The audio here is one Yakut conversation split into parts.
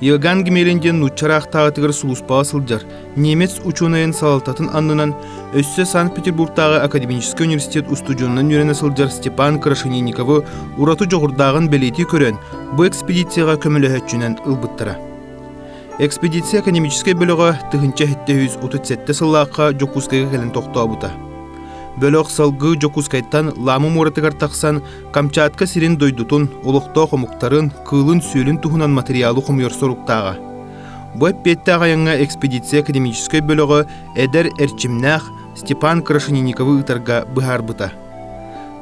Иоганн Гимелин диэн нуучча ыраахтааҕытыгар сулууспаҕа сылдьар, немец учуонайын салалтатын аннынан өссө Санкт-Петербуртааҕы академическай университет устудьуонунан үөрэнэ сылдьар Степан Крашенинникову ураты дьоҕурдааҕын бэлиэтии көрөн, бу экспедицияҕа көмөлөһөөччүнэн ылбыттара. Экспедиция академическай бөлөҕө тыһыынча сэттэ үс отут сэттэ сыллаахха Дьокуускайга кэлэн тохтообута. Бөлөх салгыы Дьокуускайтан Лама муоратыгар тахсан Камчатка сирин дойдутун, олохтоох омуктарын, кыылын-сүөлүн туһунан материалы хомуйар соруктааҕа. Бу эппиэттээх айаҥҥа экспедиция академическай бөлөҕө эдэр эрчимнээх Степан Крашенинниковы ыытарга быһаарбыта.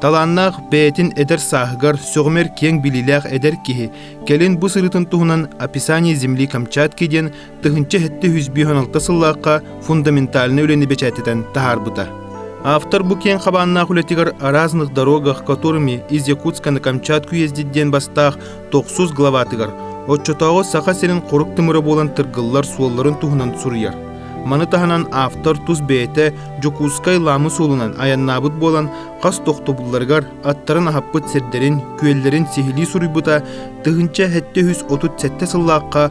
Талааннаах бэйэтин эдэр сааһыгар сөҕүмэр киэҥ билиилээх эдэр киһи кэлин бу сырыытын туһунан «Описание земли Камчатки» диэн тыһыынча сэттэ үс бүүс он алта сыллаахха фундаментальнай үлэни бэчээттэтэн таһаарбыта. Автор бу киэҥ хабааннаах үлэтигэр араазных дорогах, которыми из Якутска на Камчатку ездит диэн бастаах 900 главатыгар, оччотооҕу Саха сирин хорук тымыра буолан тыргыллар суолларын туһунан суруйар. Маны таһынан автор тус бэйэтэ Дьокуускай Ламы суолунан айаннаабыт буолан, хас тохтобулларыгар аттарын аһаппыт сирдэрин, күөллэрин сиһилии суруйбута тыһыынча сэттэ үс отут сэттэ сыллаахха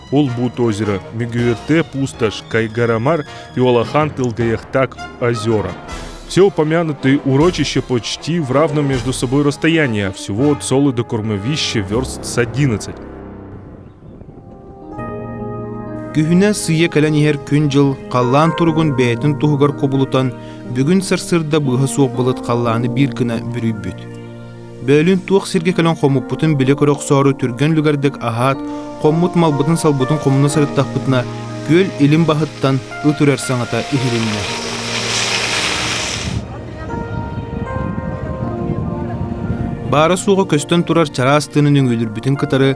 Улбут озеро, Мегюэртэ пустошь, Кайгарамар и Улахан тылгаяхтак озера. Все упомянутые урочища почти в равном между собой расстоянии, а всего от солы до кормовища верст с 11. Күһүнэ сыйа кэлэн иһэр күн-дьыл халлаан туругун бэйэтин туһугар кубулутан, бүгүн сарсыарда быыһа суох былыт халлааны биир гына бүрүйбүт. Бөөлүүн туох сиргэ кэлэн хомуппутун билэ-көрө охсоору түргэн үлүгэрдик аһаат, хоммут малбытын-салбытын хомуна сырыттахпытына, күөл илин баһыттан ыт үрэр саҥата иһилиннэ. Баара-суоҕа көстөн турар чараас тыынын өҥүүлүрбүтүн кытары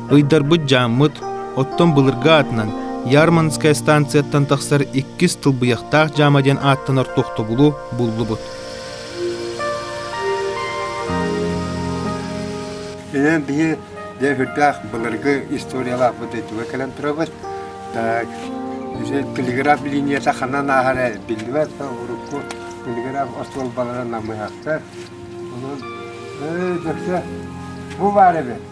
Ыйдарбыт дьааммыт, оттон былыргы аатынан Ярмарынская станцияттан тахсар иккис тылбыйахтаах дьаама диэн ааттанар тохтобулу буллубут. Инэн бии дээхүрдээх былыргы историялаахпыт дойдуга кэлэн турабыт. Телеграф линията ханан ааһара биллибэт, урукку телеграф остуолбаларын намыйахтар. Онон бөксө бу бар эбит.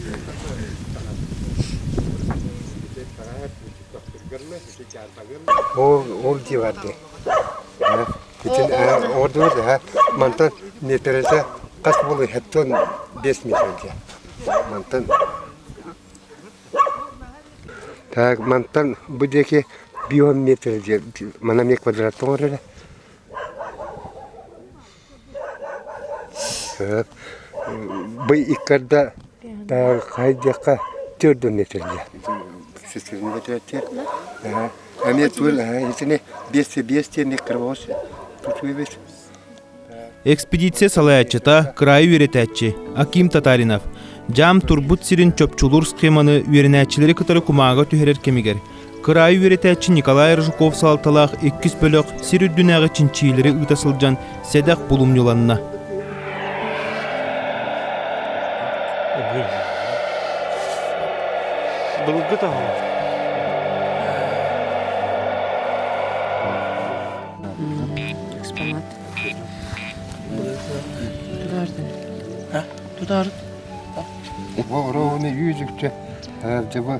Ол ол дии бар дии. Э, Бүтүн э, ордубут да мантан непересе хас болу хеттон бес мишел дия. Мантан так мантан бу деки бион метр дия. Мана ме квадрат тоңореле. Бый иккэрдэ хайа диэххэ тиэрдүннэ этилэр. Эмиэ тур итини биэсти биэс диэн кырбоос тутуубут. Экспедиция салайааччыта, кыраайы үөрэтээччи Аким Татаринов. Дьаам турбут сирин чопчулуур схеманы үөрэнээччилэри кытары кумааҕы түһэрэр кэмигэр Кыраайы үөрэтээччи Николай Рыжуков салалталаах иккис бөлөх сир үрдүнээҕи чинчийиилэри ыыта сылдьан сэдэх булумньуланна. Былгыт аһа. Экспонат. Тутардын. Ха? Тутарын. Вороны үйүзүкчэ дьаба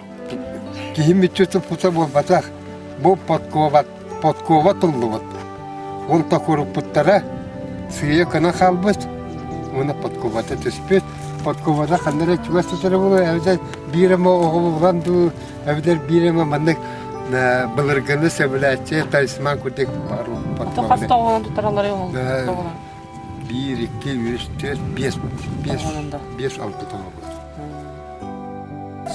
Киһим мүччүтүн пута буолбатах, бу подкова, подкова туллубут. Ол токуруппуттара сыыйа кына хаалбыт, уона подкубата түспүт. Подкубада ханна эрэ чугас төсөрө булуо, эбдер биир эме оҕолу булан дуу, эбдер биир эме маннык былыргыны сөбүлээччи талисман кудик пару подкова. Хас тоҕуна тутаралары ол? биир, икки, үс, төрт, биэс, биэс, биэс алта таҥа буолар.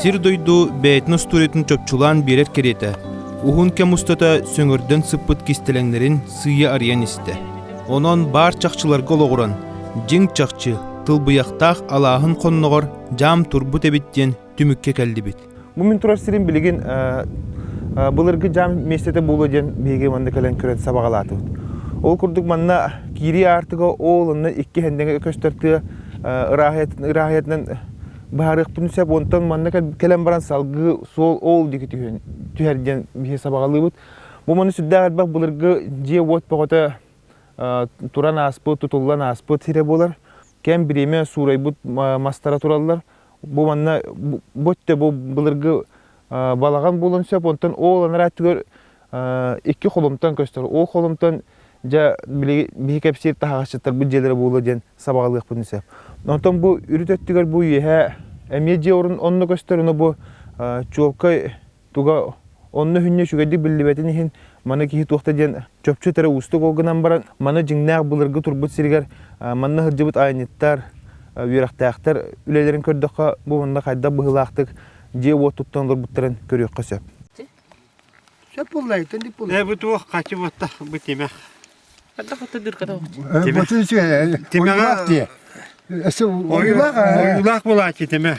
Сир дойду бэйэтин устуоруйатын чопчулаан биэрэр кэриэтэ. Уһун кэм устата сөҥөрдөн сыппыт кистэлэҥнэрин сыыйа арыйан истэ. Онон баар чахчыларга олоҕуран, дьиҥ чахчы, тылбыйахтаах алааһын хонноҕор дьаам турбут эбит диэн түмүккэ кэллибит. Бу мин турар сирим билигин былыргы дьаам миэстэтэ буолуо диэн биһиги манна кэлэн көрөн сабаҕалаатыбыт. Ол курдук манна киирии аартыга ол онно икки хэндэҥэ көстөр тыа ырааһыйатынан быһаарыахпын сөп онтон манна кэлэн баран салгыы суол ол диэки түһэр диэн биһи сабаҕалыыбыт бу маны сүрдээх элбэх былыргы дьиэ-уот бөҕөтө туран ааспыт тутуллан ааспыт сирэ буолар кэм бириэмэ суурайбыт мастара тураллар Бу манна бу өттө бу былыргы балаҕан буолан сөп, онтон ол анараа өттүгэр икки холумтан көстөр. Ол холумтан дьэ биһи кэпсиир таһаҕасчыттарбыт дьиэлэрэ буолуо диэн сабаҕалыахпын сөп. Онтон бу үрүт өттүгэр бу үөһэ эмиэ дьиэ орун онно көстөр, ону бу чуолкай Туга онно үһүннэ үчүгэйдик биллибэтин иһин, маны киһи туох да диэн чопчу этэрэ уустук. Ол гынан баран, маны дьиҥнээх былыргы турбут сиригэр манна сылдьыбыт айанньыттар, үөрэхтээхтэр үлэлэрин көрдөххө, бу манна хайдах быһыылаахтык дьиэ-уот туттан олорбуттарын көрүөххэ сөп. Сөп буллайыттан дип буллай. Э, бу туох хачы батта бу тимэх. Хата хата дүрката. Тимэх. Тимэҕэ- Ойулаах. Ойулаах булааччы тимэх.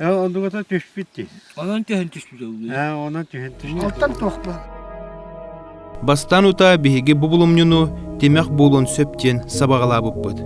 Ээ, одугата түспүт дии. Онон түһэн түспүт ыллыы. Ээ, онон түһэн түспүт. Оттон туохпун? Бастан утаа биһиги бу булумньуну тимэх буолун сөп диэн сабаҕалаабыппыт.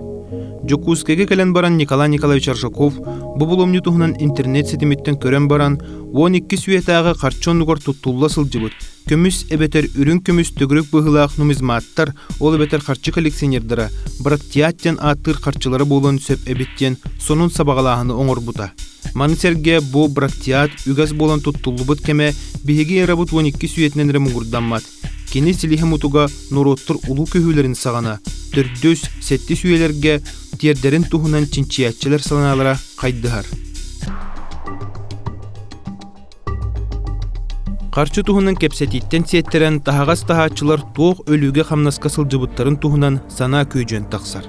Дьокуускайга кэлэн баран Николай Николаевич Аршаков бу булумньу туһунан интернет ситимиттэн көрөн баран, уон икки сүөтээҕи харчы оннугар туттулла сылдьыбыт Көмүс эбэтэр үрүҥ көмүс төгүрүк быһыылаах нумизматтар, ол эбэтэр харчы коллекционердара Братьят диэн ааттыыр харчылара буолуон сөп эбит диэн сонун сабаҕалааһыны оҥорбута. Маны сэргэ бу Братьят үгэс буолан туттуллубут кэмэ биһиги эрабыт уон икки сүйэтинэн эрэ муҥурдаммат. Кини силиһэ мутуга норуоттар улуу көһүүлэрин саҕана төрдүс, сэттис үйэлэргэ тиэрдэрин туһунан чинчийээччилэр санаалара хайдыһар. Харчы туһунан кэпсэтииттэн сиэттэрэн таһаҕас таһааччылар туох өлүүгэ-хамнаска сылдьыбыттарын туһунан санаа күөдьүөн тахсар.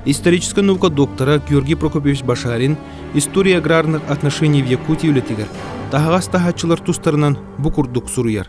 Историческай наука доктора Георгий Прокопьевич Башарин «История аграрных отношений в Якутии» үлэтигэр таһаҕас таһааччылар тустарынан бу курдук суруйар.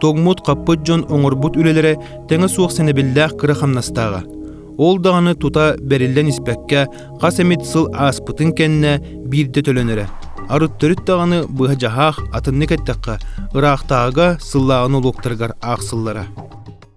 тоҥмут-хаппыт дьон оҥорбут үлэлэрэ тэҥэ суох сэнэбиллээх кыра хамнастааҕа. Ол даҕаны тута бэриллэн испэккэ хас эмит сыл ааспытын кэннэ биирдэ төлөнөрө. Арыт төрүт даҕаны быһа дьаһаах атыннык эттэххэ ыраахтааҕыга сыллааҕын олуоктарыгар аахсыллара.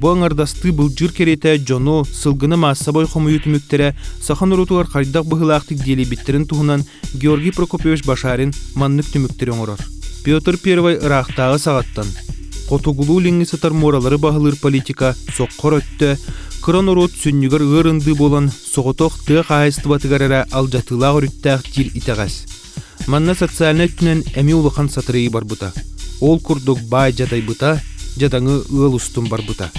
Бу аҥардастыы былдьыыр кэриэтэ дьону, сылгыны маассабай хомуйуу түмүктэрэ саха норуотугар хайдах быһыылаахтык диэлийбиттэрин туһунан Георгий Прокопьевич Башарин маннык түмүктэри оҥорор. Петр I ыраахтааҕы саҕаттан хотугулуу-илиҥҥи сытар муоралары баһылыыр политика соххор өттө кыра норуот сүнньүгэр ыар ындыы буолан соҕотох тыа хаһаайыстыбатыгар эрэ алдьатыылаах өрүттээх диир итэҕэс. Манна социальнай өттүнэн эмиэ улахан сатырыйыы барбыта. Ол курдук баай дьадайбыта, дьадаҥы ыал устун барбыта.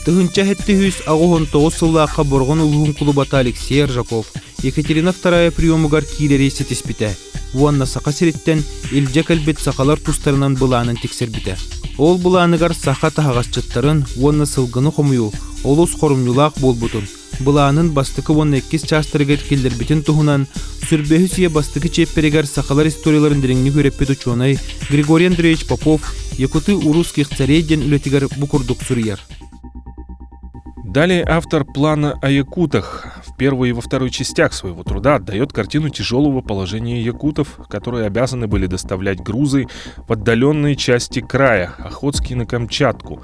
Тыһынча сэттиһүүс аҕыһын тоҕус сыллаахха Борҕон улууһун кулубата Алексей Ржаков Екатерина вторая приемугар киирэри ситиспитэ уонна Саха сириттэн илдьэ кэлбит сахалар тустарынан былаанын тиксэрбитэ. Ол былааныгар саха таһаҕасчыттарын уонна сылгыны хомуйуу олус хорумньулаах буолбутун, Былаанын бастакы уонна иккис чаастарыгар киллэрбитин туһунан Сүрбэһис үйэ бастакы чиэппэригэр сахалар историяларын дириҥник үөрэппит учуонай Григорий Андреевич Попов Якутыы урусских царей диэн үлэтигэр бу курдук суруйар. Далее автор плана о якутах в первую и во вторую частях своего труда отдает картину тяжелого положения якутов, которые обязаны были доставлять грузы в отдаленные части края, Охотский на Камчатку,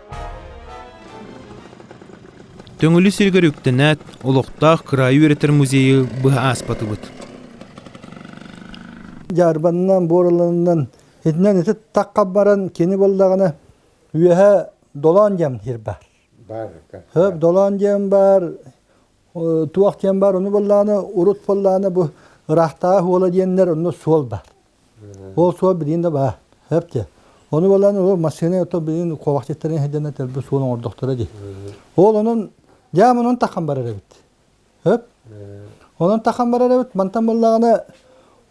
Төҥүлү сиригэр үктэнээт, олохтоох кыраайы үөрэтэр музейы быһа ааспатыбыт. Дьаарбанынан, буораланынан, итинэн ити таққа баран кини боллаҕына үөһэ долоон дьам кир бар. Бар. Хөп долоон дьам бар, туох дьам бар, ону боллаҕына урут боллаҕына бу ыраахтааҕы уола диэннэр онно суол бар. Ол суол билигин да баар сөптө. Ону булан ол массыына ото билигин куобахчыттарын сыдьана төлбө суон оҥордохторо дии. Ол онон дьаам онон таххан барар эбит. Өп. Онон таххан барар эбит. Мантан буллаҕына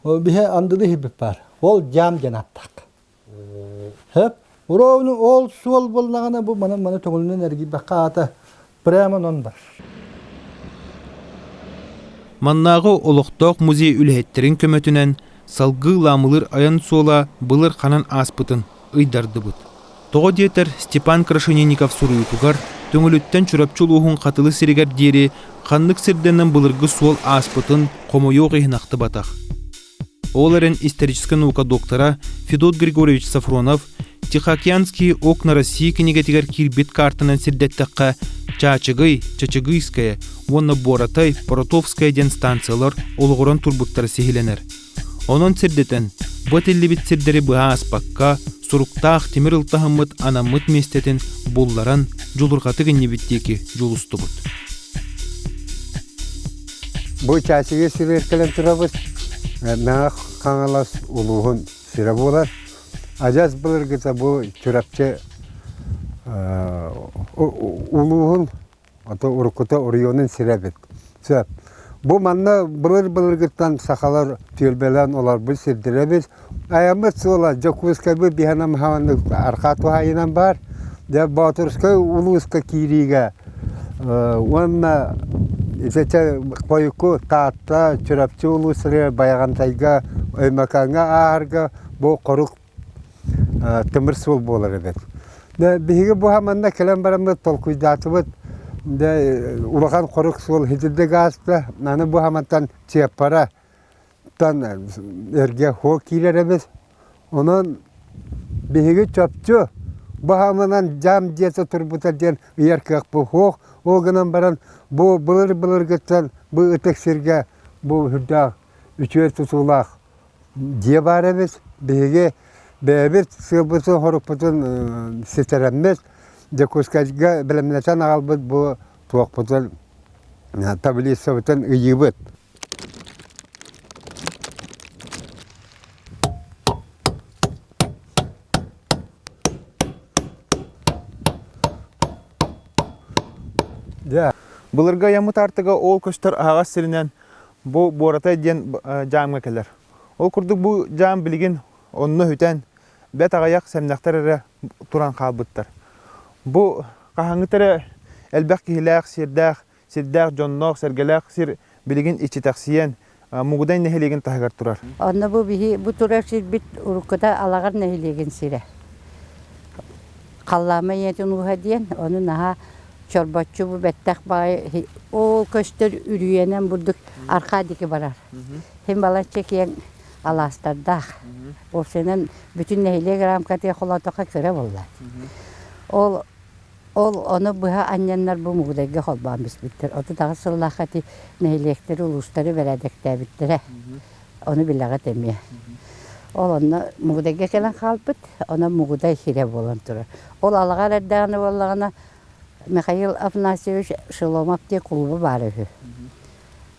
биһи андылы иһирбит баар. Ол дьаам диэн аттак. Өп. Уровну ол суол буллаҕына бу маны маны көҥүлүнэн эргийбэххэ аата Прямо онон бар. Маннааҕы олохтоох музей үлэһиттэрин көмөтүнэн салгыы Лаамылыр айан суола былыр ханан ааспытын ыйдардыбыт. Тоҕо диэтэр Степан Крашенинников суруйуутугар Төҥүлүттэн Чурапчы улууһун Хатылы сиригэр диэри ханнык сирдэнэн былыргы суол ааспытын хомойуох иһин ахтыбатах. Ол эрэн историческай наука доктора Федот Григорьевич Сафронов Тихоокеанские окна России кинигэтигэр киирбит каартанан сирдэттэххэ Чаачыгый, Чачыгыйская уонна Боротай, Боротовская диэн станциялар олоҕуран турбуттара сиһилэнэр. Онон сирдэтэн, бу этиллибит сирдэри быһа аспакка, суруктаах тимир ылтаһыммыт анаммыт миэстэтин булларан, дьулурҕатык иннибит диэки дьулустубут. Бу чаачыгы сибиэркэлэн турабыт. Мэҥэ Хаҥалас улууһун сирэ буолар. Адьас былыргыта бу Чурапчы улууһун ото уруккута оройуонун сирэ эбит. Сөп. Бу манна былыр-былыргыттан сахалар түөлбэлээн олорбут сирдэрэ эбит. Айаммыт суола Дьокуускайбыт биһанамһаваннык арҕаа туһайынан баар. Дьэ Боотурускай улууска киириигэ уонна ичэчэ хойукку Таатта, Чурапчы улуустарыгар Байаҕантайга, Өймөкөөҥҥө ааһарга бу хорук тымыр суол буолар эбит. Дьэ биһиги бу манна кэлэн бараммыт толкуйдаатыбыт. Дьэ улахан хорук суол хитирдик ааста. Аны бу хамантан Чыаппара Тан эргэ һуо киирэр эбит. Онон биһиги чопчу баһаамынан дьаам дьиэтэ турбута диэн ыйар кыахпыт суох. Ол гынан баран бу былыр-былыргыттан бу ытык сиргэ бу үрдээх үтүө тутуулаах дьиэ баар эбит. Биһиги бэйэбит сыалбытын-хорукпутун ситэрэммит Дьокуускайга бэлэмнэтэн аҕалбыт бу туохпутун таблицабытын ыйыыбыт. Дьэ, былыргы айаммыт артыга ол көстөр аһаҕас сиринэн бу Буората диэн дьаамҥа кэлэр. Ол курдук бу дьаам билигин онно үтэн, бэт аҕайах сэмнэхтэр эрэ туран хаалбыттар. Бу хаһааҥҥыта эрэ элбэх киһилээх, сиэрдээх сирдээх дьонноох-сэргэлээх сир билигин иччитэхсийэн, Мугудай нэһилиэгин таһыгар турар. Онно бу биһи бу турар сирбит уруккута Алаҕар нэһилиэгин сирэ. Халлаама ийэтин ууһа диэн, ону наһаа чорбоччу бу бэттэх баҕайы ол көстөр үрүйэнэн бурдук архаа диэки барар. Син балачча киэҥ алаастардаах. Общинан бүтүн нэһилиэк рамкатыгар холоотоххо кыра буолла. Ол Ол ону быһа анньаннарбы Мугудайга холбоон биспиттэр. Отут аҕыс сыллаахха ити нэһилиэктэри, улуустары бэрээдэктээбиттэрэ. Ону билэҕит эмиэ. Ол онно Мугудайга кэлэн хаалбыт, онон Мугудай хирэ буолан турар. Ол алаҕар эрдэҕинэ буоллаҕына Михаил Афанасьевич Шеломов диэн кулуба баара үһү.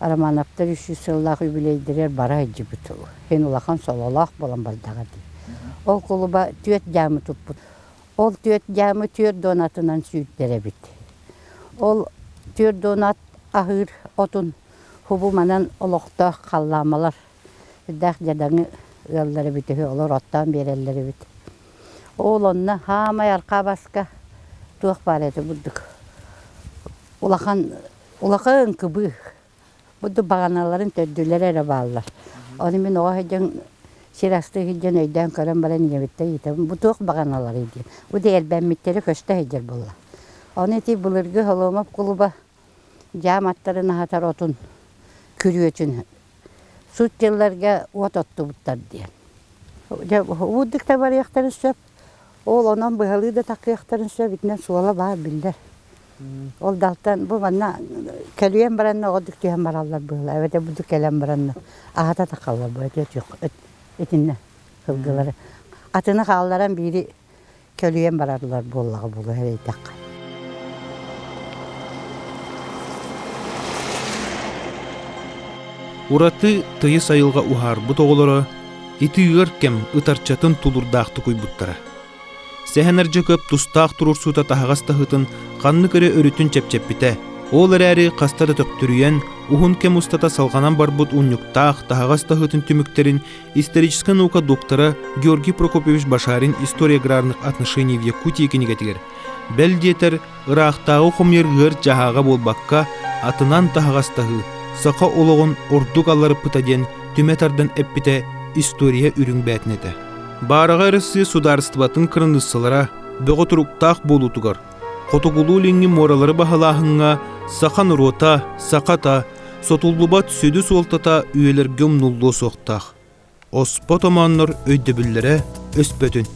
Романовтар үс сүүс сыллаах үбүлүөйдэригэр бара сылдьыбыт үһу. Иһин улахан сололоох буолан бардаҕа дии. Ол кулуба түөрт дьаамы туппут. Ол түөрт дьаамы түөрт дуон атынан сүүрдэр эбит. Ол түөрт дуон ат аһыыр отун хубуманан олохтоох халлаамалар ырдаах дьадаҥы ыаллар эбит үһү, олор оттоон биэрэллэр эбит. Ол онно хаамай архаа баска туох баар этэ бурдук. Улахан, улахан кыбыых. Будду баҕаналарын төрдүлэрэ эрэ бааллар. Ону мин оҕо сылдьан сир астыы сылдьан өйдөөн көрөн баран ийэбиттэн ыйытабын, бу туох баҕаналарый диэн. Бу да эрбэммиттэрэ көстө сылдьар буолла. Ону ити былыргы Холуомап кулуба дьаам аттарын аһатар отун күрүөтүн сут дьылларга уот оттубуттар диэн. Дьэ уурдук да барыахтарын сөп, Ол онон быһалыы да такыахтарын сөп, итинэн суола баар биллэр. Ол далтан бу манна кэлиэн баранна оҕодук түһэн бараллар быһыла эбэтэ будут кэлэн баранна аһата тахаллар бу этиэ отуох итиннэ сылгылары атыны хаалларан биири көлүйэн бараллар буоллаҕа буолуо эрэйдэххэ ураты тыйыс айылҕа уһаарбыт оҕолоро ити ыар кэм ытарчатын тулурдаахтык уйбуттара. Сэһэнэрдьэ көп тустаах туруорсуута таһаҕас таһытын ханнык эрэ өрүтүн чэпчэппитэ, ол эрээри хаста да төптүрүйэн, уһун кэм устата салҕанан барбыт унньуктаах таһаҕас таһытын түмүктэрин историческай наука доктора Георгий Прокопьевич Башарин история аграрных отношений в Якутии кинигэтигэр, бэл диэтэр, Ыраахтааҕы хомуйар ыар-дьаһааҕа буолбакка, атынан таһаҕастаһыы саха олоҕун ордук аларыппыта диэн түмэ тардан эппитэ история үрүҥ бээтин этэ. Баараҕай Арассыыйа судаарыстыбатын кыраныыссалара бөҕө туруктаах буолуутугар, хотугулуу-илиҥҥи муоралары баһылааһыҥҥа саха норуота, сахата, сотуллубат сүдү суолтата үйэлэргэ умнуллуо суохтаах. оспот омооннор өйдөбүллэрэ өспөтүн